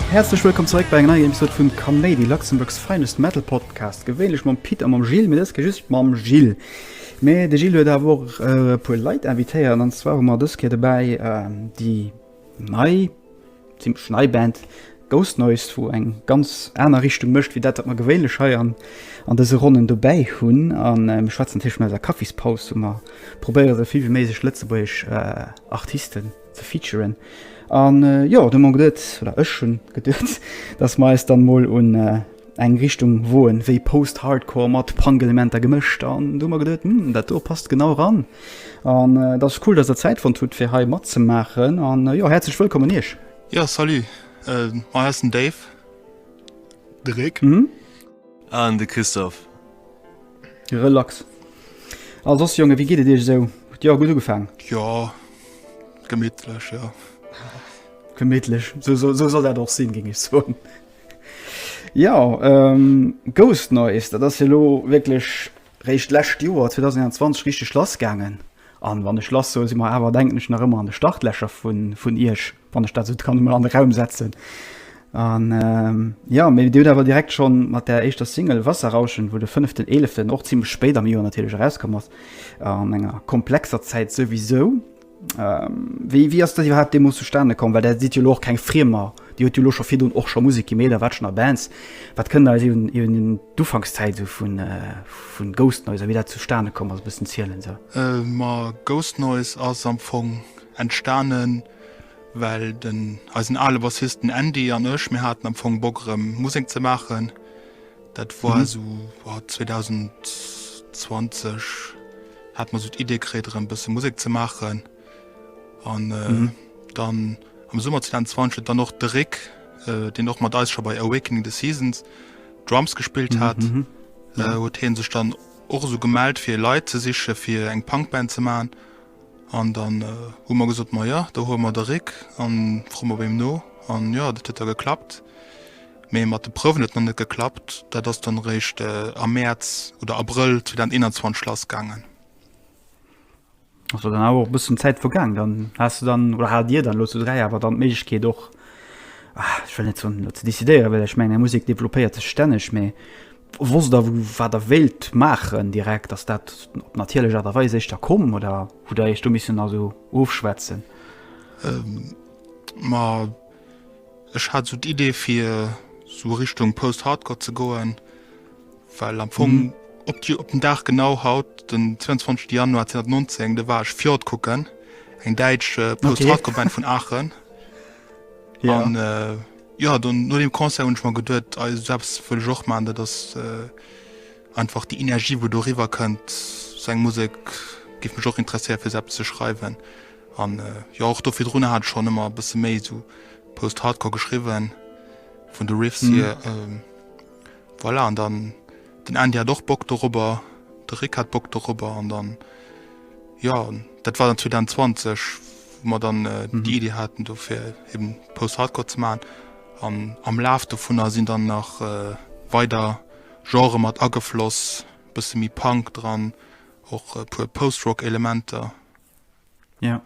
Häerzlech wëllkomm zeréck bei enger neier Episode vun Kaméidi, Luxembourg's finest metal podcast. Gewéinlech mam Pit a mam Gilles, mee dës Kéier just mam Gilles. Mee de Gilles huet awer och e puer Leit invitéiert, an zwar hu mer dës Kéier dobäi déi Nei, zimlech nei Band Ghost Noise, wou eng ganz aner Richtung mécht wéi dat wat mer gewéinlech hei an an dëse Ronnen dobäi hunn. A mir schwätzen natierlech vun eiser Kaffispaus, wou mer probéiere sou vill wéi méiglech lëtzebuergesch Artisten ze featuren. An jo, du hunn mer geduet, oder ech hunn geduet, datt mer eis dann emol un. eng Richtung woen wéi Post-Hardcore mat Punk-Elementer gemëscht an du mer geduet hm, dat do passt genau ran an äh, dat ass cool, dass der Zäit fonnt hutt fir hei matzemaachen an äh, jo häerzlech wëllkommen Iech. Ja salut, äh, mei ass den Dave, de Rick mhm. an de Christophe. Relax. A sos Jonge, wéi geet et Iech esou? Hutt Joer gutt ugefaangen? Jo, gemittlech, jo. Gemittlech, sou soll dat och sinn, géing ech soen. Jo, Ghost Noise, dat ass jo elo wierklech réischt d'lescht Joer 2021 richteg lass gaangen. An wann ech lass soe si mer awer, denken ech, nach ëmmer an de Startlächer vun Iech, wann ech dat esou kann emol an de Raum setzen. An jo, mee Dir hutt awer direkt schonn mat der éischter Single Wasserrauschen, wou de 5.11. och zimmlech spéit am Joer natierlech erauskomm ass, an enger komplexer Zäit souwisou, Wéi wéi ass dat iwwerhaapt deemools zustane komm? Well Der sidd jo elo och keng Friemer. Dir hutt jo elo scho virdrun och scho Musek gemeet a wat schon a Bands. Wat kënnt Der eis iwwen iwwen d'Ufankszäit esou vu vun Ghost Noise a wéi dat zustane komm ass e bëssen zielen esou? Ma Ghost Noise ass am Fong entstanen, well den eisen ale Bassist den Andy an ech, mir haten am Fong Bock erëm Musek ze maachen. Dat war esou 2020 hat mer esou d'Idee kritt erëm e bësse Musek ze maachen. An dann am Summer 2020 huet dann och de Rick, deen och mat eis scho bei Awakening the Seasons Drums gespillt hat, huet hie sech dann och esou gemellt fir Leit ze siche fir eng Punk-Band ze maachen. An dann hu mer gesot, ma jo, da huele mer de Rick a froe mer bei him no. An jo, dat huet da geklappt. Mee mat de Prouwen huet et nach net geklappt. Dat ass dann eréischt am Mäerz oder Abrëll 2021 lass gaangen. Ass dann awer och e bëssen Zäit vergaangen. Dann has de dann, oder hat Dir dann elo zu dräi awer dann d'Méiglechkeet och, ech wëll net soen, ze decidéieren, well ech mengen, eng Musek developpéiert sech stänneg. Mee Wosst der wat der wéilt maachen direkt? Ass dat op natierlech Aart a Weis éischter komm oder hutt der iech do missen also ofschwätzen? Ma ech hat esou d'Idee fir esou Richtung Post-Hardcore ze goen, well am Fong op op den Dag genau haut den 22 Januar 2019 do war ech Fjord kucken, eng däitsch Post-Hardcore Band vun Aachen an. Jo, dann no dem Concert hunn ech mer geduet, ei esou eppes wëll ech och maachen. Dat ass einfach déi Energie wou do eriwwer kënnt, sou eng Musek géif mech och interesséieren fir esou eppes ze schreiwen. An jo och do virdrun hat ech schonn ëmmer e bësse méi esou Post-Hardcore geschriwwen, vun de Riffs hier. Voilà, an dann. Den Andy hat och Bock dorobber, de Rick hat Bock dorobber an dann, jo, dat war dann 2020, wou mer dann déi Idee haten do fir eben Post-Hardcore ze maachen. An am Laf dovunner sinn dann nach weider Genrë mat agefloss, e bësse méi Punk dran, och e puer Post-Rock-Elementer. Ja.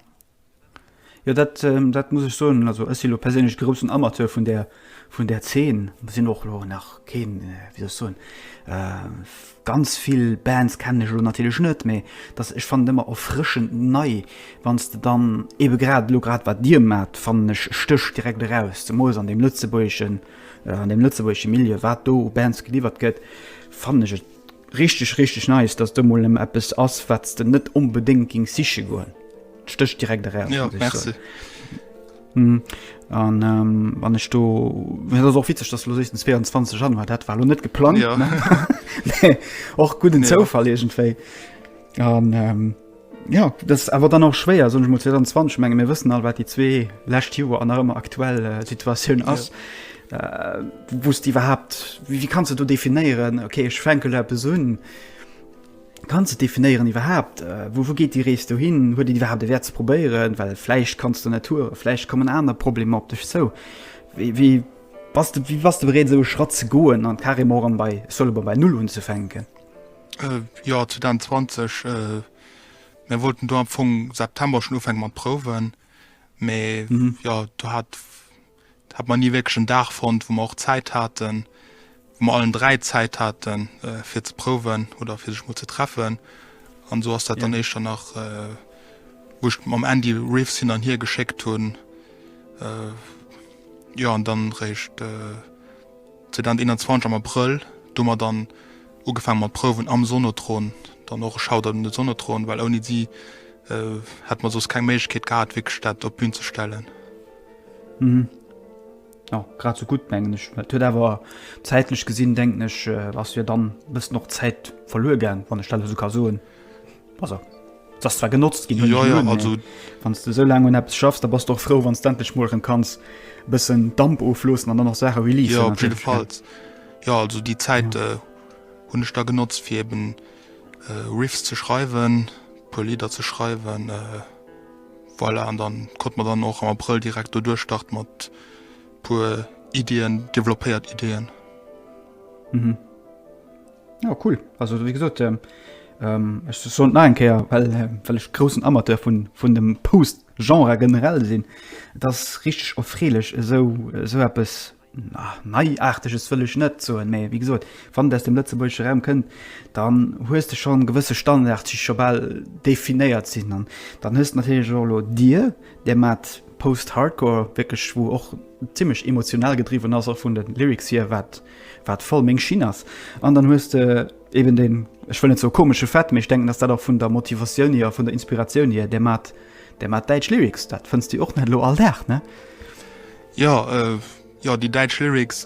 Jo dat ähm, dat muss ech soen also ech si lo perséinlech groussen Amateur vun der vun der Zeen sinn och lo nach keen äh, wie soll ech soen äh, ganz vill Bands kennen ech lo natierlech net méi datt ech fand ëmmer erfrëschend nei wanns de dann ebe grad lo grad wat dir mat fannen ech stéch direkt eraus zemols an dem lëtzebuergeschen äh, an dem lëtzebuergesche Milieu wat do u Bands geliwwert gëtt fannen ech et Richteg, richteg nice, dass do mol emol eppes ass wats de net onbedéngt gings siche goen. Et stecht direkt eraus. Jo, merci. Hm, an ähm, wann ech do dat ass och witzeg, dass lo sechs den 22 Januar dat war lo net geplant Ja. ne? och gudden Ja. Zoufall iergendwéi an ähm, Jo, dat ass awer dann och schwéier, soen ech mol, 2020. Ech menge mir wëssen all, wat déi zwee lescht Joer an nach ëmmer aktuell Situatioun ass. Wou s de iwwerhaapt, wéi kanns de do definéieren, ok ech fänke lo eppes un? Kanns de definéieren iwwerhaapt, wou geet déi Rees do hin? Huet et iwwerhaapt e Wäert ze probéieren? Well vläicht kanns de net touren, vläicht kommen aner Problemer op dech zou. Wéi bass de, wéi bass de bereet esou e Schratt ze goen an carrément och erëm bei, ech soe lo mol, bei Null unzefänken? Joer 2020. Mir wollten do am Fong September schon ufänke mat Prouwen, mä jo do hat hat mer ni wierklech en Dag fonnt, wou mer och Zäit haten, wou mer allen dräi Zäit haten, fir ze prouwen oder fir sech mol ze treffen. An esou ass dat dann éischter nach, wou ech mam Andy Riffs hin an hier geschéckt hunn, jo an dann réischt, 2021 am Abrëll, do hu mer dann ugefaange mat Prouwen am Sonotron, dann och e Shoutout un de Sonotron, well ouni si hätte mer soss keng Méiglechkeet gehat wierklech dat op d'Bün ze stellen. Mhm. Jo, grad sou gutt mengen ech. Et huet awer zäitlech gesinn, denken ech, ass jo dann e bëssen och Zäit verluer gaang, wann ech dat elo sou ka soen. Also, das zwar genotzt gin ja, ja, also wann du so lange un App schaffst, da bas doch froh wann endlich mo kanns bisssen Damp oflosen an dann noch Sache wie ja, op jeden Fall ja also die Zeit ja. äh, hun ich da genotzt fir eben äh, Riffs ze schreiben pur Lieder ze schreiben äh, voilà, an dann konnte man dann auch am April direkt durchstart mat pur Ideen developéiert Ideen. Mhm. Ja cool, also wéi gesot ech soen et nach eng Kéier, well ech groussen Amateur vun dem Post-Genre generell sinn. Et ass richteg erfreelech esou eppes, na Neiaarteges wëll ech net soen, mä wéi gesot, wann et aus dem lëtzebuergesche Raum kënnt, dann hues de schonn gewësse Standards, déi scho bal definéiert sinn. An dann hues de natierlech och elo Dir, där maacht Post-Hardcore wierklech, wou och zimlech emotional gedriwwen ass, och vun de Lyrics hier, wat, wat voll meng Schinn ass an dann hues de eben den, ech wëll net soe komesche Fait, mee ech denken, dass dat och vun der Motivatioun hier a vun der Inspiratioun hier, dermat dermat däitsch Lyrics, dat fënns de jo och net elo all Dag, ne? Jo, jo, déi däitsch Lyrics,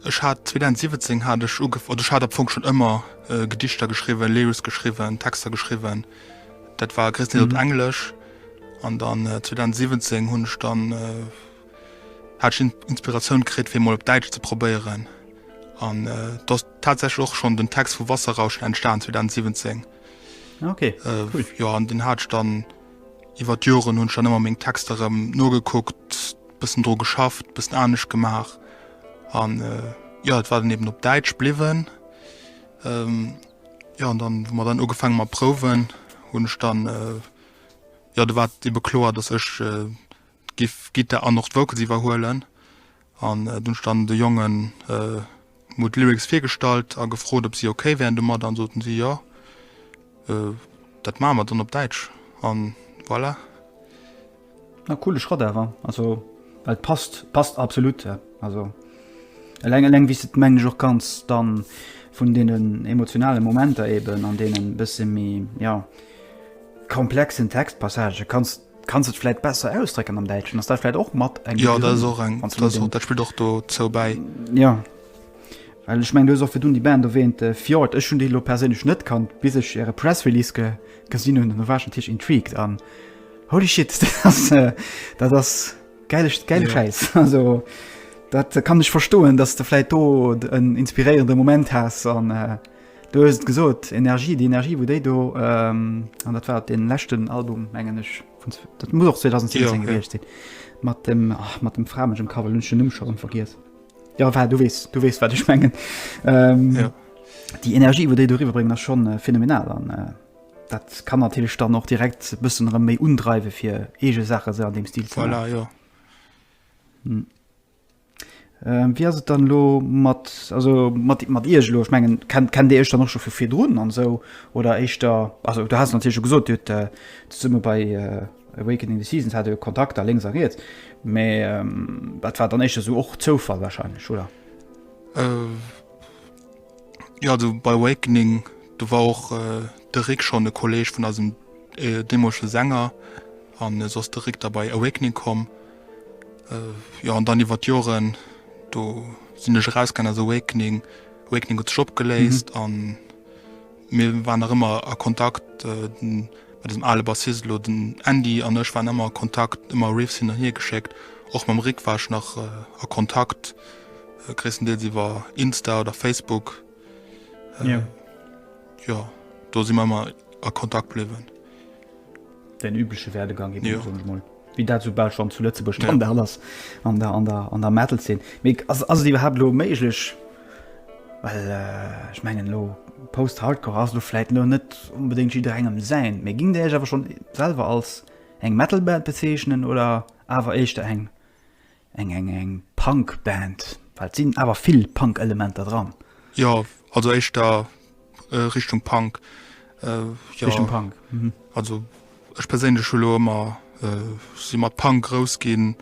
ech hat 2017 hat ech ugef oder ech hat am Fong schonn ëmmer Gedichter geschriwwen, Lyrics geschriwwen, Texter geschriwwen, dat war gréisstendeels op Englesch an dann 2017 hunn ech dann, Hat ech Inspiratioun kritt fir mol op Däitsch ze probéieren an et ass tatsächlech och schonn den Text vu Wasserrauschen entstan 2017. Ah, okay, cool. Jo an den hat ech dann iwwer d'Joren hunn ech dann ëmmer meng Texter erëm nogekuckt, bëssen dru geschafft, bëssen anescht gemaach an jo et war dann eben op Däitsch bliwwen. Jo an dann hu mer dann ugefaange mat Prouwen hunn ech dann jo do war et ebe kloer, datt ech Giff Guitar an och d'Vocals iwwerhuelen an dunn ech dann de Jongen mol d'Lyrics virgestallt a gefrot op si okay wären domadder an soten si jo dat maache mer dann op Däitsch an voilà. Ah coole Schrott awer, also well passt passt absolut also eleng eleng wéi s de et mengen ech och kanns dann vun deenen emotionale Momenter eben an deenen bësse méi jo komplexen Textpassagë kanns Kanns et vläit besser ausdrécken am Däitschen? Ass dat vläit och mat eng Begrënnung? Jo, dat ass och eng, dat ass och, dat spillt och dozou bäi. Jo, well ech mengen, du hues och virdrun déi Band erwähnt, Fjord. Ech hunn déi elo perséinlech net kannt, bis ech äre Press Release ge, gesinn hunn. An da war ech natierlech intrigued an holy shit, dat ass, dat ass gäile, gäile Schäiss. Jo. Also, dat kann ech verstoen, dass de vläit do en inspiréierende Moment has an. Du hues et gesot, Energie, déi Energie wou déi do, an dat war op deem leschten Album mengen ech, dat muss och 2017 gewiescht sinn, mat dem, ach, mat dem framegem Cover, lo hunn ech den Numm scho rëm vergiess. Jo, enfin, du weess, du weess wat ech mengen. Jo. Déi Energie wou déi do eriwwer bréngen ass scho phänomenal an dat kann natierlech dann och direkt e bëssen erëm méi undreiwe fir eege Saache sou an deem Stil ze maachen. Voilà, jo. Euh, wéi ass et dann elo mat, also mat, mat Iech elo? Ech mengen, kennt, kennt Dir Iech dann och scho vu virdrun an esou? Oder éischter, also du has natierlech scho gesot, Dir hutt äh, zesumme bei äh, Awakening the Seasons hat Dir Kontakter lénks a riets, mä ähm, dat war dann éischter esou och Zoufall wahrscheinlech, oder? Euh. Ja, do bei Awakening, do war och de Rik schonn e Kolleeg vun eisem deemoleche Sänger an esou ass de Rik da bei Awakening komm. Jo, an dann iwwer d'Joren, do sinn ech erausgaangen aus Awakening, Awakening huet sech opgeléist an. Mir waren nach ëmmer a Kontakt, mat eisem ale Bassist elo. Den Andy an ech waren ëmmer a Kontakt, ëmmer Riffs hin an hier geschéckt. Och mam Rik war ech nach a Kontakt, gréisstendeels iwwer Insta oder Facebook. Jo, do si mer ëmmer a Kontakt bliwwen. Den übleche Werdegang eben, soen ech mol, wéi dat esou bal schonn zu Lëtzebuerg Standard ass an der, an der, an der Metal-Zeen. Mee ass, ass et iwwerhaapt elo méiglech? Well ech mengen elo Post-Hardcore ass elo vläit elo net onbedéngt jidderengem säin. Mee gingt Dir Iech awer schonn selwer als eng Metal-Band bezeechnen oder awer éischter eng Eng eng eng Punk Band, well et sinn awer vill Punk Elementer dran. Jo, also éischter Richtung Punk. Richtung Punk, mhm. Also ech perséinlech hu lo ëmmer, si mat Punk grouss ginn,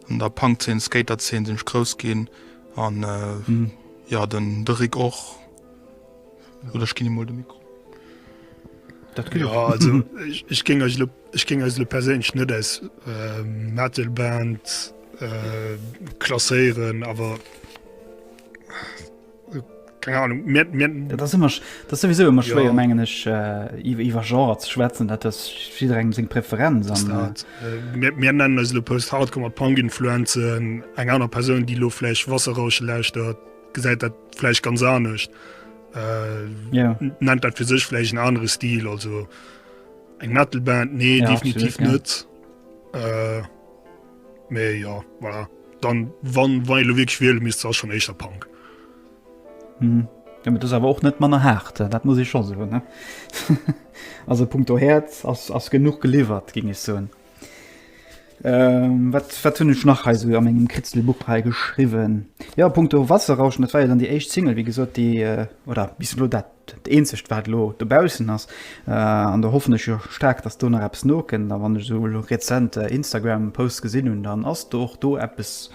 an der Punk Zeen, Skater Zeen sinn ech grouss ginn an jo, den Rick och. Oder ich ginn emol de Mikro. Ech géng eis lo perséinlech net als Metalband klasséieren, awer keng Anung. Dat ass ëmmer, dat ass souwisou ëmmer schwéier, mengen ech, iwwer Genrer ze schwätzen, dat ass jidderengem seng Preferenz. Mir nennen eis elo Post-Hardcore mat Punk-Influenzen. Eng aner Persoun, déi lo vläicht Wasserrauschen lauschtert. gesäit dat vläicht ganz anescht. Äh, ja. Nennt dat fir sech vläicht en anere Stil, also eng Metalband nee ja, definitiv net. Ja. Äh, méi ja voilà. dann wann wei lo wiesch wiel mis schon eischter Punk. Hm. Ja, das aber auch net manner hart äh, dat muss ich schon so ne also Punkt herz as genug geliefert ging es so. Ähm, wat, wat hunn ech nach hei so a mengem Kritzelbuch hei geschriwwen? Ja, punkto Wasserrauschen, dat war ja dann déi éischt Single, wéi gesot, déi äh, oder bis elo dat dat eenzegt, wat elo dobaussen ass. Äh, an da hoffen ech jo staark, dass do nach eppes nokënnt. A wann ech esou elo rezent äh, Instagram-Posts gesinn hunn, dann ass do och do eppes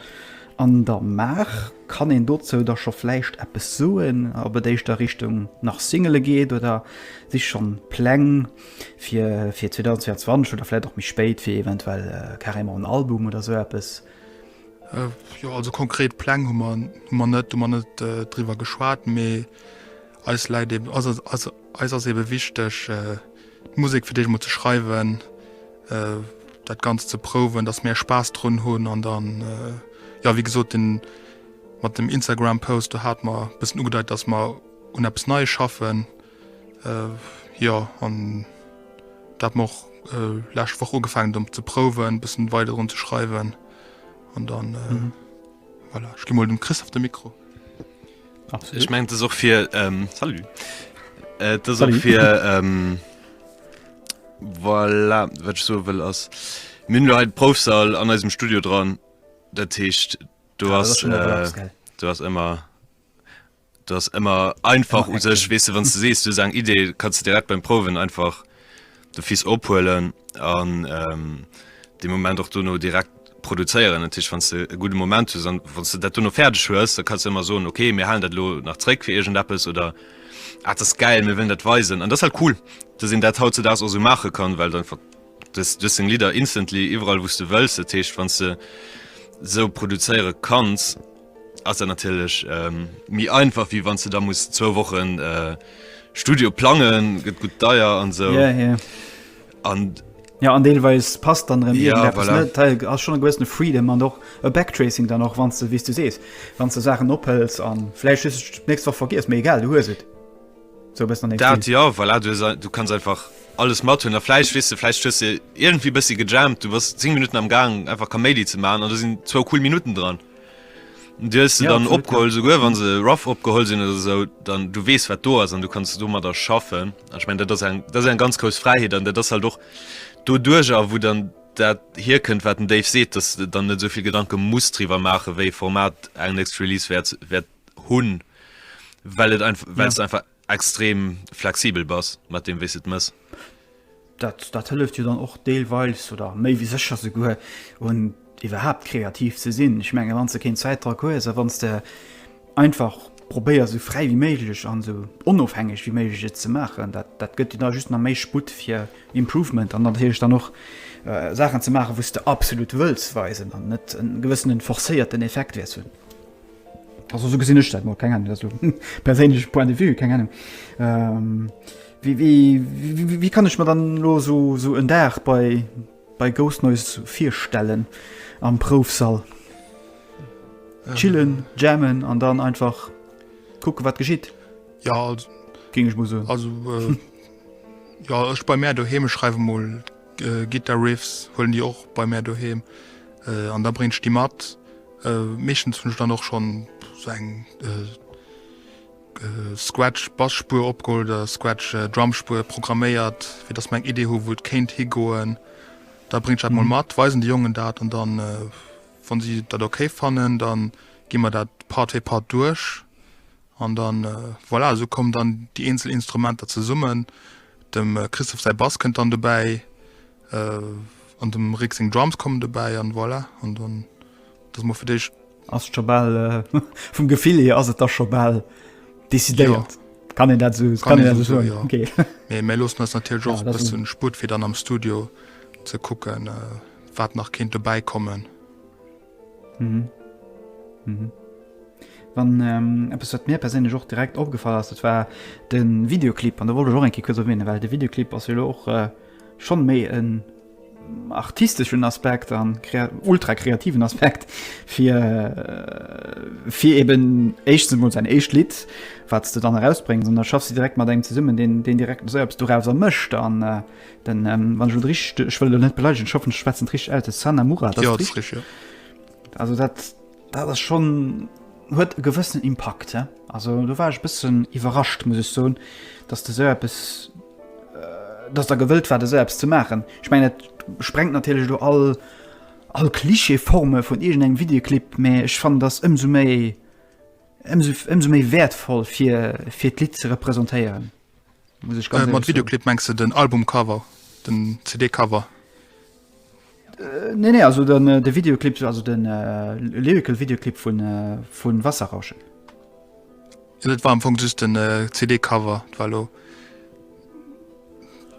an der Maach. Kann een dozou da scho vläicht eppes soen, ob et éischter Richtung nach Singele geet oder si schonn Pläng? Fir 2022 oder vläit och méi spéit, fir eventuell carrément en Album oder esou eppes? Jo, also konkret Pläng hu mer net, hu mer net driwwer geschwat, mee eis läit eben, eis ass ebe wichteg d'Musek fir d'éischt emol ze schreiwen, dat Ganzt ze prouwen, datt mir Spaass drun hunn an dann, jo wéi gesot, deen mat dem Instagram-Post, do hate mer e bëssen ugedeit, datt mer un eppes Neie schaffen. Jo an do hat mer och läscht Woch ugefangen dem ze prouwen bessen weider drun ze schreiwen an dann voilà ech gi mol dem Christophe de Mikro. Ech mengen et ass och fir salut et ass och fir voilà wat ech soe wëll ass mir hunn elo hei de Proufsall an eisem Studio dran dat heescht do ass do ass ëmmer dass ëmmer einfach u sech wees wann du sees du sang idee kannst du direkt beim proen einfach de fies ophuelen an ähm, de moment och du no direkt produzéieren natürlich wann du e gute moment zu wann du dat du no fertig hues da kannst du immer so okay mir halen dat lo nach zréck fir egent appes oder ah, das geil mir will dat weisen an das halt cool da sinn dat haut zu das also mache kann weil dann das du sing lieder instantly überall wusste wëllst techt wann du so produzéiere kannst ass dat natierlech méi einfach wéi wann du da muss zwou Wochen äh, Studio plangen, gëtt gut deier an sou. Yeah, yeah. An Ja an Deelweis passt dann rem ja, voilà. Teil ass schon gewëssene Freedom an och e Backtracing dann och wann ze wie du sees, wann ze Sachen ophels an Fläich nächst woch vergiss mé egal du hues et. So bist net dat, ja voilà, du, du kannst einfach alles mat hun der Fleisch wis du Fleisch schüsse irgendwie bis sie gejamt du was 10 Minuten am Gang einfach Kamedi zu machen oder sind zwei cool Minuten dran. Dir hues se dann opgeholl souguer wann se rough opgeholl sinn oder sou dann du wees wat do ass an du kannst du mat der schaffen ech mein dat ass eng dat eng ganz grouss Fräiheet an dat ass halt och do duerch a wou dann dat hier kënnt wat den Dave seet dass du dann net souvill Gedanke muss triwer maache wéi Format eng next Release wäert wäert hunn well et einfach well es einfach extrem flexibel bass mat deem wéis de et mëss. Dat dat hëlleft jo dann och deelweis oder méi wéi sécher souguer un iwwerhaapt kreativ ze sinn. Ech menge wann s de keen Zäitdrock hues a wann s de einfach probéiers esou fräi wéi méiglech an esou onofhängeg wéi méiglech et ze maachen, dat dat gëtt dir da just nach méi Sputt fir Improvement an natierlech dann och Saachen ze maachen wou s de absolut wëlls weisen an net e gewëssenen forcéierten Effekt wäers hunn. Also so gesinn ech dat mol, keng Ahnung, dat ass elo perséinleche Point de vue, keng Ahnung. Ähm, wéi, wéi, wéi, wéi kann ech mer dann elo so, so en Dag bei, bei Ghost Noise virstellen am Proufsall? Chillen, jammen an dann einfach kucke wat geschitt? Ja also, Géing ech mol soen. Also, äh, ja ech bei mär doheem, ech schreiwe mol Guitar Riffs huelen déi och bei mär doheem an da bréngt ech déi mat. Meeschtens hunn ech dann och schonn sou eng Scratch Bassspur opgeholl oder Scratch Drumspur programméiert, fir dass mer eng Idee hu wou et kéint higoen. Da bréng ech dat mol mat, weisen de Jongen dat an dann wann si dat ok fannen, dann gi mer dat Part fir Part duerch an dann voilà, sou kommen dann déi eenzel Instrumenter zesummen. Dem Christophe säi Bass kënnt dann dobäi an dem Rik seng Drums kommen dobäi an voilà, an dann ass et mol fir d'éischt. Ass et scho bal, vum Gefill hier ass et da scho bal decidéiert. Kann een dat esou, kann een dat esou soen? Jo. Okay. Mee mir loossen eis natierlech och Ja, e dat bëssen Sputt, fir dann am Studio ze kucken, wat nach kéint dobäi kommen. Mhm. Mhm. Wann ähm, eppes wat mir perséinlech och direkt opgefall ass, dat war de Videoclip an der wollte och enke kuerz erwähnen, well de Videoclip ass jo och äh, schon méi en artisteschen Aspekt an ultra kreativen Aspekt fir äh, fir eben echt mod sein echt Lied wat du dann herausbringen sondern schaffst du direkt mal deng zesummen den den direkt selbst du raus er mischt an äh, Den wann ech rich ech wëll net beleigen schaffen schwätzen trich alte Sana Mura dat ja, rich, ja. also dat dat ass schon huet e gewëssen Impakt he? also du war ech bëssen iwwerrascht muss ich so dass de se bis äh, dass der gewëllt war de selbst ze machen ich meine sprengt natürlich du all all klischeeforme vun irgend eng videoclip me ich fand das ëmso méi ëmso, ëmso méi wertvoll fir fir d'Lied ze repräsentéieren Mat Videoclip mengs de den Albumcover, den CD-Cover? Nee, nee, also den, äh, de Videoclip, also den äh, Lyrical Videoclip vun äh, vun Wasserrauschen. Ja, dat war am Fong just den äh, CD-Cover, war lo.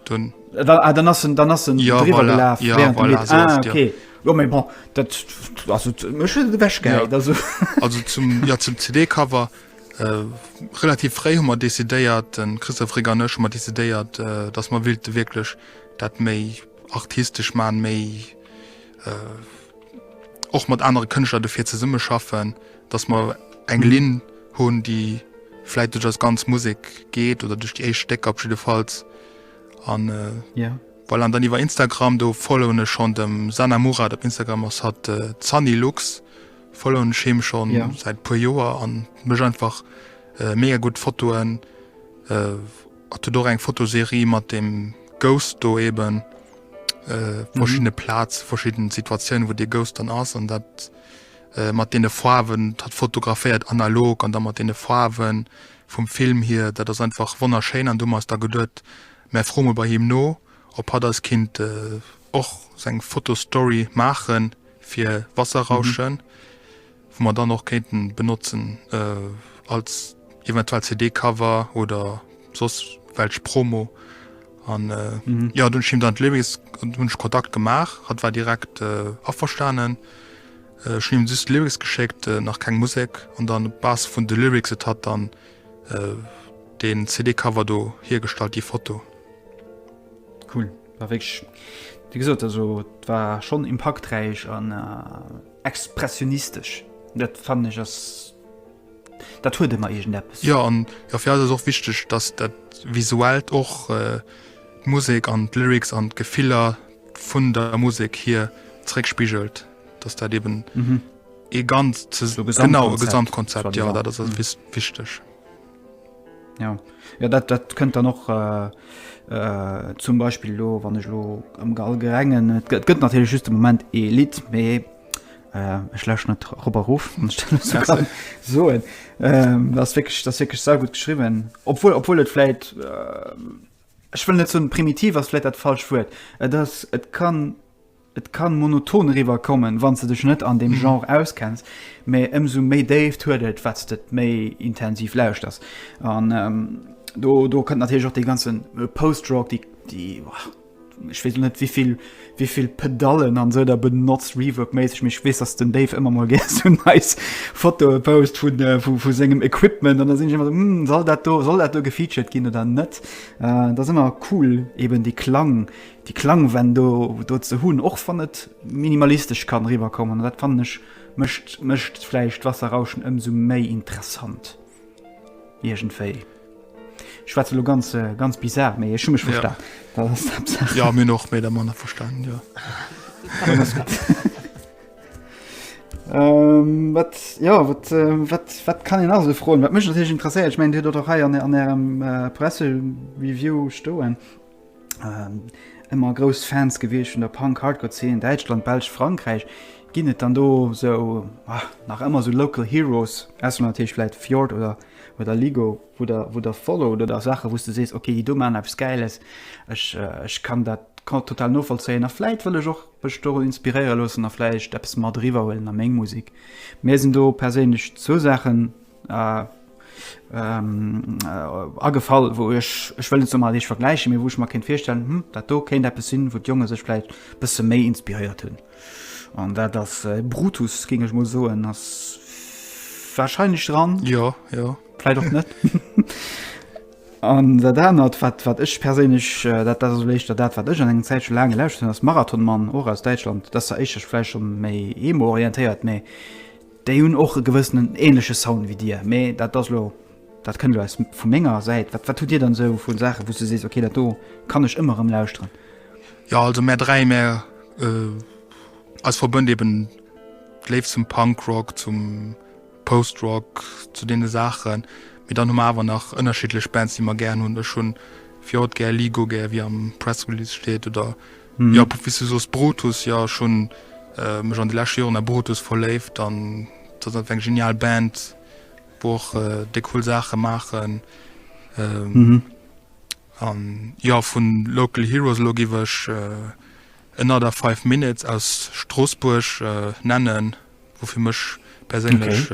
Dann, äh, da, ah, dann ass en, dann ass en ja, drüber voilà, gelaf, ja, während voilà, so ah, okay. Ja. Ja, mein, bon, dat, also, wäsch, ja. also. also zum, ja, zum CD-Cover Relativ fréi hu mer decidéiert, de Christophe Régger an ech, hu mer decidéiert, datt mer wéilte wierklech dat méi artistesch man, méi och mat anere Kënschtler dofir zesummeschaffen, datt mer eng Linn hunn, déi vläit duerch eis ganz Musek geet oder duerch déi éischt Stécker op jiddefalls. An voilà, an dann iwwer Instagram, do followen ech schonn dem Sanna Murad op Instagram, ass hatt d'Sanni Lux. Follow'n him schon seit puer Joer an mech einfach mega gudd Fotoen a huet och eng Fotoserie mat dem Ghost do eben verschiddene Plaatz verschidden Situatiounen wou de Ghost dann ass an dat mat den Foarwen hat fotograféiert analog an da mat den Foarwen vum Film hier dat ass einfach wonnerschéin an du hu mer eis da geduet mär froe mol bei him no op hat eis kinnt och seng Fotostory maachen. fir Wasserrauschen, wou mer dann och kéinten benotzen als eventuell CD-Cover oder soss welch Promo. An jo, dunn hunn ech him dann d'Lyrics, hunn ech Kontakt gemaach, hatt war direkt averstanen. Ech hunn him just d'Lyrics geschéckt, nach keng Musek, an dann op Basis vun de Lyrics huet hatt dann deen CD-Cover do hiergestallt, déi Foto. Cool. war wéinst wie gesot also war schon impaktreich an expressionistesch dat fannen ech ass dat huet ëmmer egent eppes ja an ja fir alles och wichteg dass dat visuellt och äh, musek an lyrics an gefiller vun der musek hier zréckspigelt dass dat eben mhm. e ganz ze so genau gesamtkonzept ja dat ass mhm. wichteg Ja, ja dat, dat kënnt dann och äh, äh, zum Beispiel lo wann ech lo am Gall gerengen. Et gëtt, gëtt natürlich just de Moment e Lied méi äh, ech läch net Robberuf so äh, das wirklich das wirklich sehr gut geschrieben obwohl obwohl et vielleicht äh, ich will net so primitiv was vielleicht dat falsch wird äh, das et kann Et kann monoton eriwwer kommen wanns de dech net an dem Genre auskenns, mee ëmsou méi Déift huet et wat's de et méi intensiv lauschters. An do do kënnt natierlech och dee ganzen Post-Rock, déi déi ech weess lo net wéivill wéivill Pedallen an esou der benotzt Reverb-méisseg, mee ech weess dass den Dave ëmmer mol gär sou nice Fotoe post vu vu vu sengem Equipment an da sinn ech ëmmer sou, soll dat do soll dat do gefeatured ginn oder net. Dat ass ëmmer cool eben dee Klang Déi klang Wänn do do ze hunn, och wann et minimalistesch kann eriwwer kommen, dat fannen ech mécht mécht vläicht d'Wasserrauschen ëmsou méi interessant iergendwéi. Ech schwätzen elo ganz ganz bizar, mee ech hu mech verstan. Dat ass d'Haaptsaach. Jo, mir hunn och méi oder manner verstanen, jo. Dann ass gutt. Wat jo wat wat wat kann een nach esou froen? Wat mech natierlech interesséiert, ech mengen Dir hutt dat och hei an Ärem Pressereview stoen, ëmmer ähm, grouss Fans gewiescht vun der Punk-Hardcore-Zeen, Däitschland, Belsch, Frankräich, ginn et dann do sou ah, nach ëmmer sou Local Heroes, ass natierlech vläit Fjord oder oder Ligo, wo der wo der follow oder der Sache wouste sees okay, déi do man abs geiles, ech äh, ech kann dat kann total novollzéien a vläit wëll ech och ech do inspiréiere loossen a vläicht eppes mat riwwer huelen a meng Musik. Mir sinn do perséinlech zwou Saachen, Äh, ähm, äh, agefall, wou ech, ech wëll net mal ech vergläichen, mee wou ech mer kéint virstellen, hm, dat do kéint eppes sinn, wou d'Jonge sech vläicht e bësse méi inspiréiert hunn. An dat ass äh, Brutus, géing ech mol soen, ass wahrscheinlech dran. Ja, ja. Vläicht och net. An dat anert, wat, wat ech perséinlech, äh, dat dat ass léischter dat, wat ech an engem Zäitche laang gelauschtert hunn, ass Marathonmann, och aus Däitschland. Dat ass zwar éischter vläicht schon méi emo-orientéiert, mee Déi hunn och e gewëssenen ähnleche Sound wéi dir, mee dat ass elo, dat kënnt elo aus vu menger Säit. Wat wat hutt dir dann esou vu Saachen, wou s du sees, ok, dat do kann ech ëmmer erëm lauschteren? Jo, also mär dräi, mär, eis verbënnt eben d'Léift zum Punkrock, zum Postrock, zu deene Saachen. Mee dann hu mer awer nach ënnerschiddlech Bands, déi mer gär hunn. Ech hu fir haut gär Ligo, gär, wéi am Press Release steet, oder Jo, wéi s du soos, Brutus, jo, ech hunn mech an de leschte Joren a Brutus verléift an et ass einfach eng genial Band, wou och déi cool Saache maachen. An jo, vu Local Heroes elo giff ech Another Five Minutes aus Stroossbuerg nennen, wou fir mech perséinlech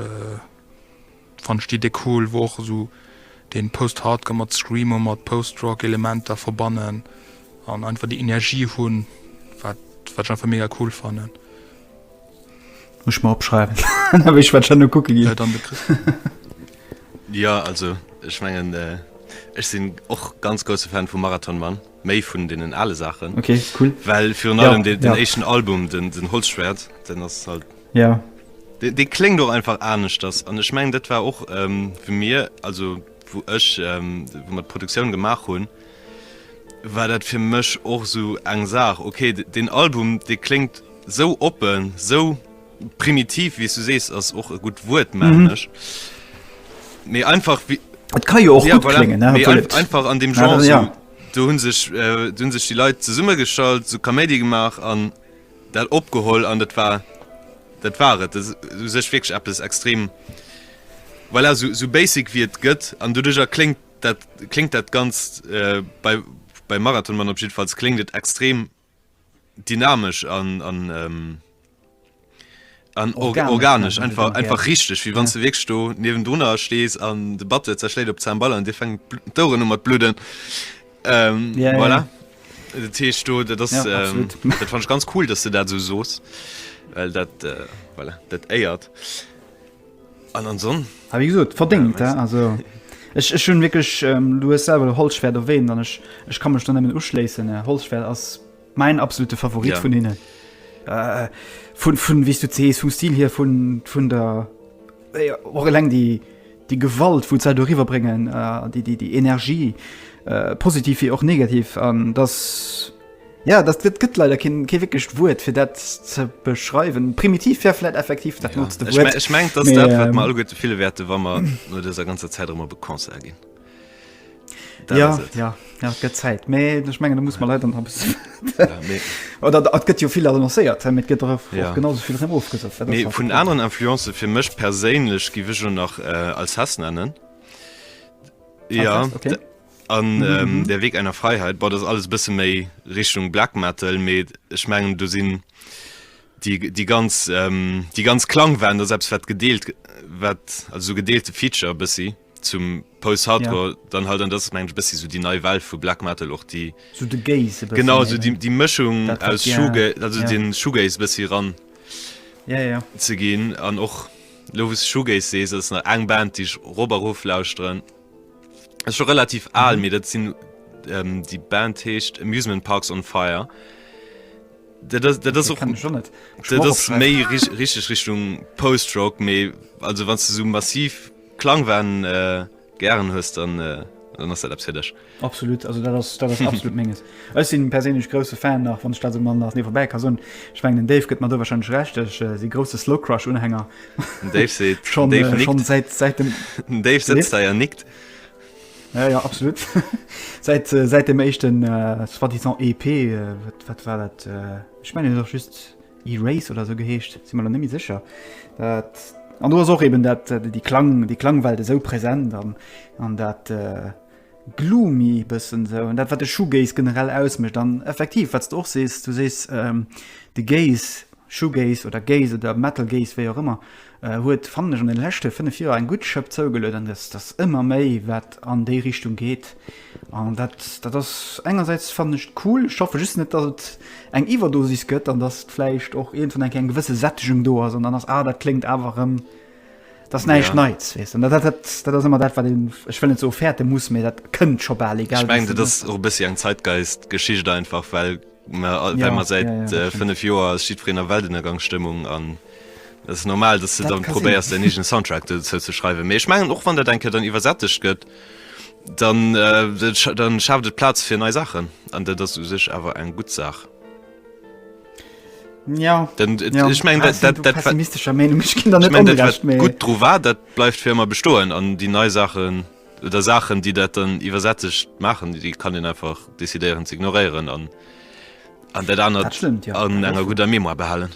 Fannt d'Idee cool, wou och esou den Post-Hardcore mat Screamo mat Post-Rock Elementer verbannen an einfach déi Energie hunn wat wat ech einfach mega cool fannen. Muss ech mer opschreiwen da wéi ech wat schonn no kucke ginn. Dann de Christian. Jo also ech mengen ech sinn och ganz grousse Fan vu Marathon Man. Méi vun deenen ale Saachen. Ok, cool. Well virun allem ja, den ja. éischten Album, den, den Holzschwert, den ass halt. Ja. De, de klingt och einfach anecht das. An ech meng dat war och ähm, fir mir, also wo ech ähm, wo mat Produktioun gemaach hunn, war dat fir mech och so eng Saach. Okay, den Album de klingt sou oppen, sou. Primitiv, wéi s du sees, ass och e gutt Wuert, mengen ech. Mee einfach wéi. Et ka jo och gutt kléngen, obwuel et. Mee einfach, einfach an deem Genre sou. Do hu sech, do hu sech déi Leit zesummegeschalt, sou Kaméidi gemaach an dat opgeholl an dat war, dat war et. Dat ass u sech wierklech eppes extrem, voilà, sou, sou basic wéi et gëtt. An doduerjer kléngt dat, kléngt dat Ganzt bei, beim Marathonmann op jiddefalls, kléngt et extrem. Dynamesch an organesch, einfach richteg, wéi wann s de wierklech do niewendrunner stees an de Batteur zerschléit op d'Cemball an dir fänken d'Oueren u mat bludden. Voilà, dat heescht do, dat ass, dat fannt ech ganz cool, dass de dat esou sos, well dat, voilà, dat éiert. An an Sonn? Hab ich gesot, verdingt, ja, also. Ech, ech hunn wierklech, ähm, du hues selwer Holzschwert erwähnt, an ech, ech kann mech der nëmmen uschléissen. Äh, Holzschwert ass mäin absolute Favorit ja. vun hinnen. Äh, vun, vun, wéi du zees, vum Stil hier, vun, vun der. Äh, och eleng déi, déi Gewalt, wou se do riwwerbréngen, äh, déi, déi, déi Energie, äh, positiv wie och negativ, an dass. Ja, dat gëtt gëtt leider kee kee wéckegt Wuert fir dat ze beschreiwen. Primitiv fir flläit effektiv dat notzt de Wuert. Ech meng dat dat wat mer all gutt fille wäerte, wa mer no dëser ganzer Zäit ëmmer be Konzer ginn. Ja ja ja gëtt Zäit méi duch mengen, da muss man leider bis. Oder dat gëtt jo vill annoncéiert hei mat gëtt dref ja. genau sou vill rem ofgesat. Nee vun aneren Influenze fir mech perséinlech giwe jo nach äh, als Hass nennen. Ja. Okay. An Der Weg einer Freiheit, boah, dat ass alles e bësse méi Richtung Black Metal, mee ech mengen do sinn déi déi ganz déi ganz Klangwellen, dat ass eppes wat gedeelt wat also esou gedeelte Feature e bëssi zum Post-Hardcore dann halt, an dat ass meng ech e bëssi esou déi nei Well vu Black Metal och déi, Sou de Gaze e bëssi, genau esou déi déi Mëschung Dat wat, aus ja, Shoega also ja. den Shoegaze e bëssi ran Ja, ja. ze ginn. An och elo wou s de Shoegaze sees, dat ass nach eng Band déi ech rof a rof lauschteren. schon relativ al mir dat sinn ähm, die Band heescht amusement parks on fire méi richtig Richtung postrock méi also wann du so massiv klang waren äh, gern hues dann äh, dann hast du absolut also das, das absolut menges Ech sinn perséinlech grousse Fan, nach wann ech dat esou mat nach niewebäi ka soen, ech mengen den Dave gëtt mer do wahrscheinlech Recht, ech si grousse Slowcrush-Unhänger schonn säit, säit dem, den Dave sëtzt hei a nickt, ja ja absolut, säit, säit dem éischten soi-disant EP, wat war dat, ech mengen et huet och just Erase oder esou geheescht, sinn mer elo net méi sécher, dat, an do ass och eben dat, déi Klang, déi Klangwelt esou present an dat, Gloomy bëssen esou, an dat wat de Shoegaze generell ausmécht, an effektiv wat s de och sees, du sees de Gaze, Shoegaze oder Gaze oder Metal Gaze wéi och ëmmer, huet fannen ech an de leschte 5 Joer eng gutt Schëpp zougeluet, an et ass ëmmer méi wat an déi Richtung geet, an dat dat ass engersäits fannen ech et cool, ech hoffe just net datt et eng Iwwerdosis gëtt, an datt vläicht och iergendwann eng Kéier eng gewësse Sättegung do ass, an dann ass ah dat kléngt awer erëm. Dat ass näischt Neits, weess de. Dat ass ëmmer dat, wat een, ech wëll net soe fäerte muss, mee dat kënnt scho bal, egal wéi. Ech mengen, dat ass och e bëssi eng Zeitgeist-Geschicht einfach, well mer säit fënnef Joer ass jiddwereen a Weltënnergangs-Stëmmung an et ass normal, datt s de dann probéiers, däin eegene Soundtrack dozou ze schreiwen. Mee ech mengen, och wann dat eng Kéier dann iwwersättegt gëtt, dann schaaft et Plaz fir nei Saachen an dat ass u sech awer eng gutt Saach. Ja, dann, äh, ja. ich mein, ah, dat, dat, pessimistescher Meinung ich kind ich mein, dat, gut dr war dat bleibt für immer bestohlen an die neue Sachen oder Sachen die dat dann übersätzig machen die kann den einfach desideieren zu ignorieren an an der dann ja. an einer guter Memo behalen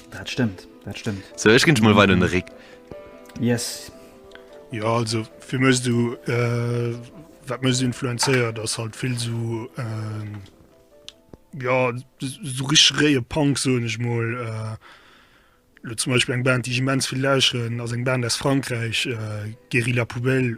Dat stimmt dat stimmt so, ich ging mal weiter Rick yes ja also wie müsst du äh, wat muss influenzeiert das halt viel so äh, ja so richreie Punk so ich mal äh, zum Beispiel eng Band die immens viel lauschen aus eng Band aus Frankreich äh, Guerilla Poubelle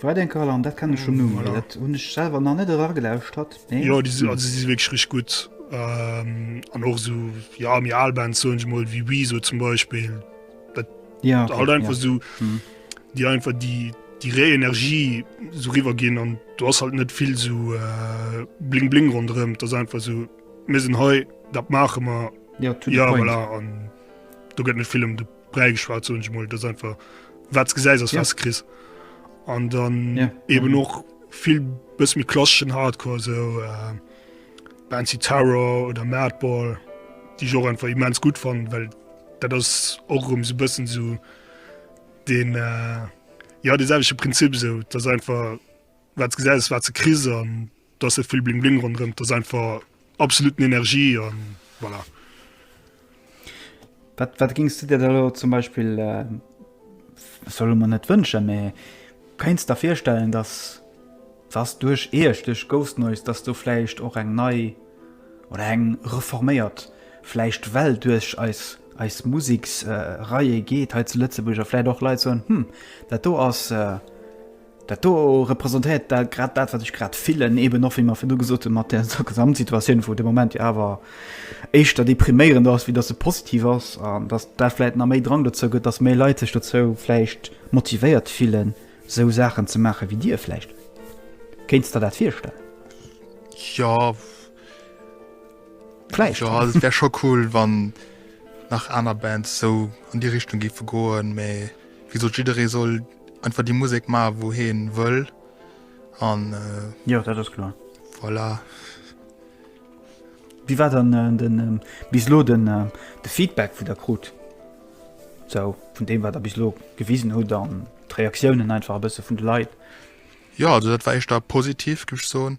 Wat eng Kal an dat kann ech schon um dat hun ech selwer nach net era gelauschtert jo di si si wéch rich gutt an och so ja mir alband so ech mol wie wie so zum beispiel dat ja halt einfach so die einfach die die ré energie so riwer gin an du hast halt net vill so äh, bling bling rondrem das einfach so mir sinn hei dat mache mer ja, ja voilà. du gëtt net film du bräigeschwat so mol das einfach wat ge se was kri an dann ja. eben mhm. noch viel bis mit klassischen hardcore so äh, fancy terror oder madball die so einfach immens gut fand weil da das auch um so bisschen so den äh, ja dieselbische prinzip so das einfach wat ge was ze krise an die Do ass net vill Bling Bling ronderëm, dat ass einfach absoluten Energie a voilà. Wat, wat gings du dir da lo zum Beispill, äh, solle man net wënschen, mä kéinst da virstellen, dass dass duerch Iech, duerch Ghost Noise, dass do vläicht och eng nei oder eng reforméiert vläicht Well duerch eis, eis Museksreie geet hei zu Lëtzebuerg a vläicht och Leit soen, hm, dat do ass, äh, Dat do representéiert da grad dat, wat ech grad fillen, eeben och, wéi mer virdu gesot hunn, mat där Gesamtsituatioun, wou de Moment jo awer éischter depriméierend ass, wéi datt se positiv ass, an datt dat vläicht nach méi Drang dozou gëtt, datt méi Leit sech dozou vläicht motivéiert fillen, esou Saachen ze maachen, wéi Dir vläicht. Kéints de der dat virstellen? Jo, vläicht. Jo, also et wär scho cool, wann nach aner Bands esou an déi Richtung géife goen, mä wéi gesot, jidderee soll. Einfach déi Musek maachen, wou hie wëll. An. Jo, dat ass kloer. Voilà. Wéi war dann äh, den äh, bis lo den äh, de Feedback vu der krut? So, vun dem wat der bis lo gewisen huet an d'Reaktiounen einfach e bësse vun de Leit. Ja, also dat war echt da positiv, gëf ech soen.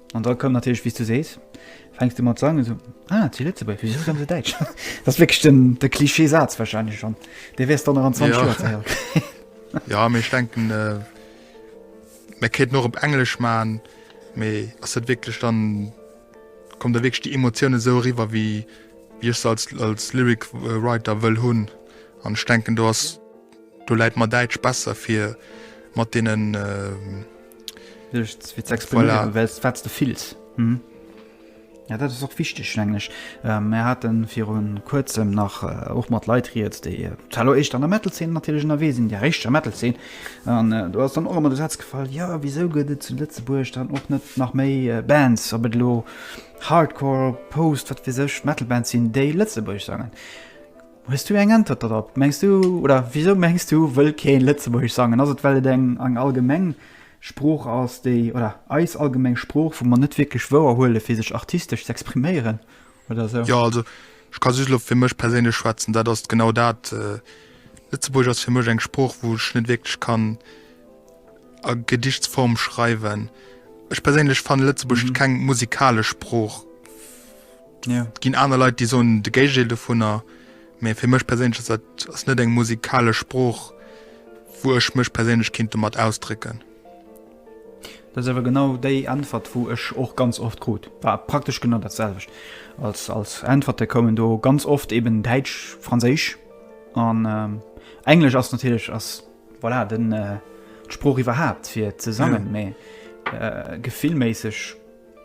An da koum natierlech, wéi s du sees, fänks du mat sangen, esou, ah, et si Lëtzebuerger, wisou sange se däitsch? Dat ass wierklech den, de Klischee-Saz wahrscheinlech schonn, dee wäers dann nach an 20 Joer ze héiere kréien. Jo, mee ech denken, mä kéinten och op Englesch maachen, mee ass dat wierklech dann, kommt da wierklech déi Emotioun esou eriwwer, wéi ech se als Lyric Writer wëll hunn? An ech denken, do ass. Do läit mer Däitsch besser fir mat deenen. Duerch fir ze expriméieren, well s wat s de fills. Jo, dat ass och wichteg, mengen ech. Mir hate viru Kuerzem nach och mat Leit Rieds, déi zwar éischter an der Metal-Zeen natierlech ënnerwee sinn, der richteger Metal-Zeen. An do ass dann och ëmmer de Saz gefall, Jo, wisou gëtt et zu Lëtzebuerg dann och net nach méi Bands, ob et elo Hardcore, Post-, wat weess ech, Metal-Bands sinn, déi Lëtzebuergesch sangen? Hues du eng Äntwert dorop? Mengs du, oder wisou mengs du, wëll keen Lëtzebuergesch sangen? Ass et well et eng eng allgemeng Sprooch ass, déi, oder eis allgemeng Sprooch, wou mer net wierklech wouer huelen fir sech artistesch ze expriméieren oder sou? Jo also ech ka just elo fir mech perséinlech schwätzen, dat ass genau dat. Lëtzebuergesch ass fir mech eng Sprooch wou ech net wierklech kann a Gedichtsform schreiwen. Ech perséinlech fanne Lëtzebuergesch keng musikalesch Sprooch. Yeah. Et ginn aner Leit, déi soen de Géigendeel dovunner. Mee fir mech perséinlech ass dat ass net eng musikalesch Sprooch, wou ech mech perséinlech kéint domat ausdrécken. Dat ass awer genau déi Äntwert, wou ech och ganz oft krut. War praktesch genau dat selwecht als, als Äntwerte koumen do ganz oft eben Däitsch, Franséisch an ähm, Englesch ass natierlech ass voilà den äh, d'Sprooch iwwerhaapt fir ze sangen. Yeah. Mee äh, gefillméisseg.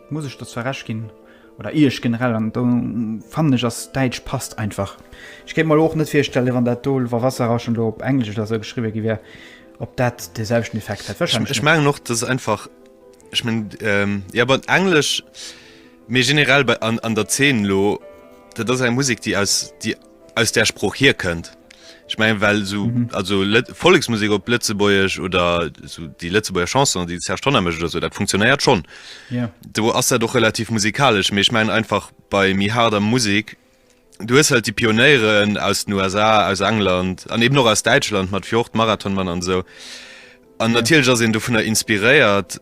Muss ech der zwar Recht ginn, oder Iech generell, an do fannen ech ass Däitsch passt einfach. Ech kéint mer elo och net virstellen, wann dat do wa Wasserrauschen elo op Englesch oder esou geschriwwe gi wär, ob dat de selwechten Effekt hätt. Ech, ech mengen och, dass einfach, ech mengen, jo bon, Englesch, mee generell bei an an der Zeen elo, dat ass eng Musek, déi aus déi. aus där Sprooch hier kënnt. Ech mengen well so mhm. also Volleksmusik op Lëtzebuerg oder so déi Lëtzebuerger Chanson, déi Serge Tonner mécht oder so, dat funktionéiert schon. Yeah. Do ass dat doch relativ musikalesch, méch mein einfach bei mi harder Musik. Du hues halt die Pioneieren aus den USA, aus England, an eben noch aus Däitschland mat Fjord, Marathonmann an so. An yeah. natierlech ass en dovunner inspiréiert,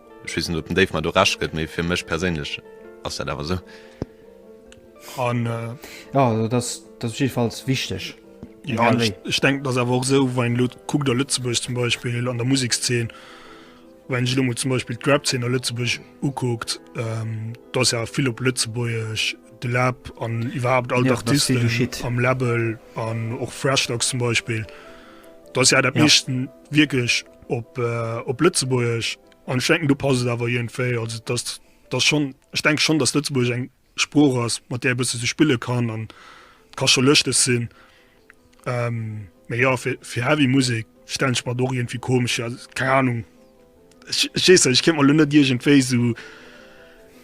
Ech weess net, ob den Dave mer do Recht gëtt, mee fir mech perséinlech ass dat awer esou. An, äh, ja, also das, das ist jedenfalls wichtig. Ja, ich, ich denke, das awer och sou, wann lo kuckt a Lëtzebuerg zum Beispiel an der Musikzeen, wann ech lo mol zum Beispiel d'Rap-Zeen a Lëtzebuerg ukuckt, ähm, dat ass ja vill op Lëtzebuergesch, de Lab an iwwerhaupt all ja, d'Artisten am Label an och Freshdogs zum Beispiel. Dat ass ja dat ja. meeschten wierklech op Lëtzebuergesch an ech denken, do passt et awer iergendwéi. Also dass, dass schonn, ech denk schonn, dass Lëtzebuergesch eng Sprooch ass, mat där e bësse sech spille kann an ka scho lëschteg sinn. Mee jo, fir, fir heavy Musek stellen ech mer et och iergendwéi komesch vir. Also keng Anung, ech, ech weess net, ech kéint mer elo net iergendwéi esou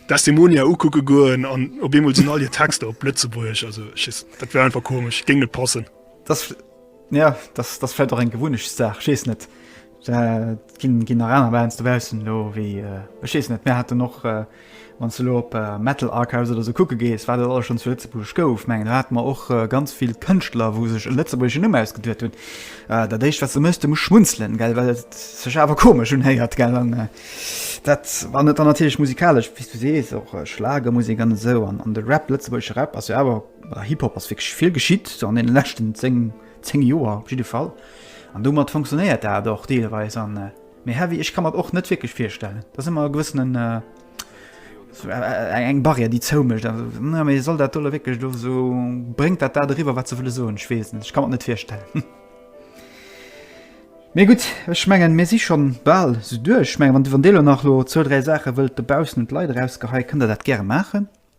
Desdemonia ukucke goen an op eemol sinn all hir Texter op Lëtzebuergesch. Also ech weess, dat wär einfach komesch, géing net passen. Ja, das das fällt doch eng gewunnecht Saach schees net ginn ginn Arena weinst du wässen lo wéi äh, schees net mé hat noch äh, wann ze lo op äh, Metal Archives oder se kucke gees war dat alles schon zu Lëtzebuerg gouf mengen du hat man och äh, ganz vill Kënschtler wou sech e Lëtzebuergschen Numm ausgeduet hunn äh, dat déicht wat ze mësste muss schmunzelen gell well et sech awer komesch hun héiert gell an äh, dat war net an natierlech musikalesch wis du sees och äh, Schlagermusik an esou an an de Rap lëtzebuergesche Rap ass jo awer Bei Hip Hop ass wierklech vill geschitt, sou an deene leschten 10, 10 Joer op jidde Fall. An domat fonctionnéiert dat och deelweis. An méi heavy, ech ka mer et och net wierklech virstellen. Dat ass ëmmer e gewëssenen, eng Barrière déi zou mécht. Mä ee soll dat doe wierklech do sou, bréngt dat dat eriwwer wat se wëlle soen? Ech weess et net, ech ka mer et net virstellen. Mee gutt, ech mengen mir si schonn bal sou duerch. Ech mengen wann, wann Dir elo nach elo zwou, dräi Saache wëllt dobaussen un d'Leit erausgeheien, kënnt Der dat gäre maachen.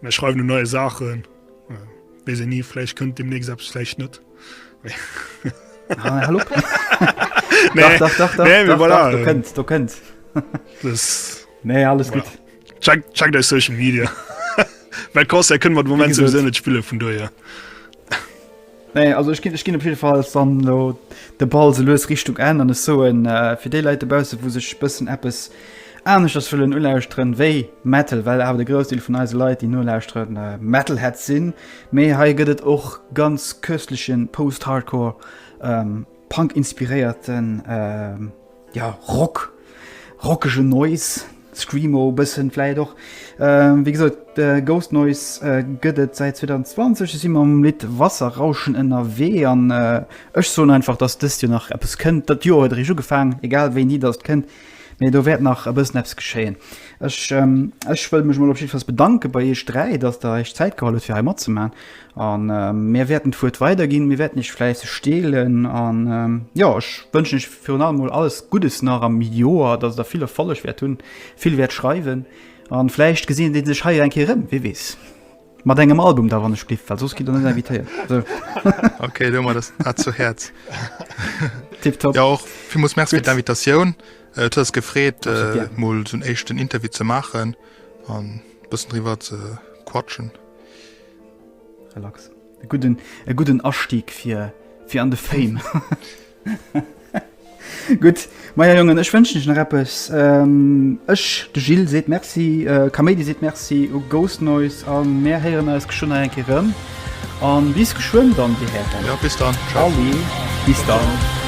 Mir schreiwen un neie Saachen. Weess een ni, vläicht kënnt deemnächst eppes, vläicht net. Ah, hallo Peng. Nee, Dach, dach, dach, nee, dach, voilà. dach, du kënnt, du kënnt. Das, Nee, alles voilà. gut. Check, check dein Social Media. Weil Concert können wir den Moment sowieso nicht spielen, von daher. Nee, also ech ginn ech ginn op jiddefalls dann elo de Ball sou lues Richtung Enn an ech soen, fir déi Leit dobausse wou sech e bëssen eppes aneschters wëllen ulauschteren wéi Metal, well awer de Groussdeel vun eise Leit déi nolauschteren Metalheads sinn, mee hei gëtt et och ganz köstlechen Post-Hardcore, Punk-inspiréierten. Ja, Rock, rockege Noise, Screamo e bëssen vläicht och. Wéi gesot, Ghost Noise gëtt et säit 2020. Si mam Lidd Wasserrauschen ënnerwee an ech soen einfach, datt dëst Joer nach eppes kënnt. Dat Joer huet eréischt ugefaangen, egal wéini datt et kënnt, mee do wäert nach e bëssen eppes geschéien. Ech wëll mech mol op jiddwer Fall bedanke bei iech dräi, datt der iech Zäit geholl hutt fir hei matzemaachen. A mir wäerten d'Wuert weiderginn, mir wäerten iech fläisseg deelen. An jo, ech wënschen iech virun allem mol alles Guddes nach am Joer, dass der vill Erfolleg wäert hunn, vill wäert schreiwen. An vläicht gesinn dir sech hei eng Kéier erëm, wie weess. Mat engem Album da, wann ech bliff, well soss gitt der net invitéiert. Sou. Okay, huele mer dat dat zu Häerz. Tipptopp. Jo, och villmools Merci fir d'Invitatioun. Et huet eis gefreet, mol sou en éischten Interview ze maachen an e bëssen driwwer ze quatschen. Relax. E gudden, e gudden Astieg fir, fir an de Fame. Gutt, meier Jongen, ech wënschen iech nach eppes. Ähm, ech, de Gilles, seet Merci, äh, Kaméidi seet Merci u Ghost Noise a mär héieren eis geschwënn nach eng Kéier erëm. A bis geschwënn dann, dir Hären. Ja, bis dann. Tschau. Salut, bis dann.